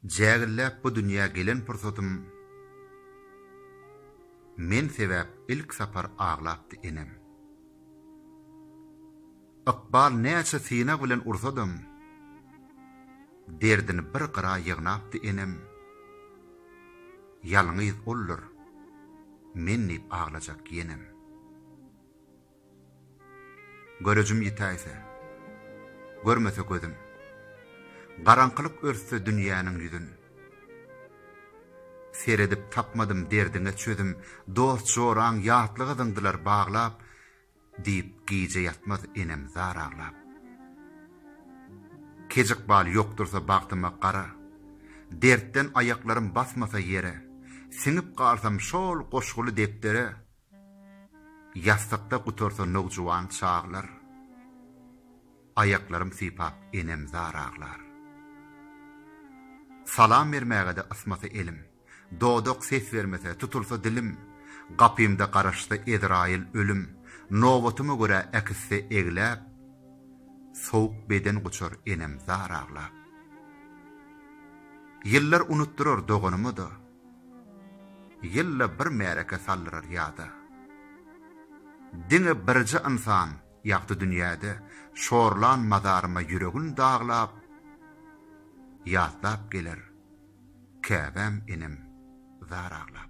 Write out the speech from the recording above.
Jägilläp bu dünýä gelen pursatym Men sebäp ilk sapar aglapdy enem. Ykbal näçe synag bilen ursadam Derdini bir gyra ýygnapdy enem. Ýalňyz oldur, men diýip aglajak ýenem. Görejim ýitäýse, görmese gözüm. Garaňkylyk örtse dünýäniň ýüzün. Seredip tapmadym derdiňe çözüm, Dost-joraň ýatlyga zyňdylar baglap, Diýip gije ýatmaz enem zar aglap. Keç ykbal ýokdursa bagtyma gara, Dertden aýaklarym basmasa ýere, Siňip galsam şol goşguly depdere, Ýassykda gutarsa nowjuwan çaglar, Aýaklarym sypap enem zar aglar. Salam bermäge-de ysmasa elim, Dodak ses bermese, tutulsa dilim, Gapymda garaşsa Ezraýyl ölüm, Nobatyma görä äkitse egläp, Sowuk beden guçar enem zar aglap. Ýyllar unutdyrar doganyma-da, Ýylda bir märeke saldyrar ýada. Diňe birje ynsan ýagdy dünýäde, Şorlan mazaryma ýüregin daglap, Ýatlap geler Käbäm inim zar aglap.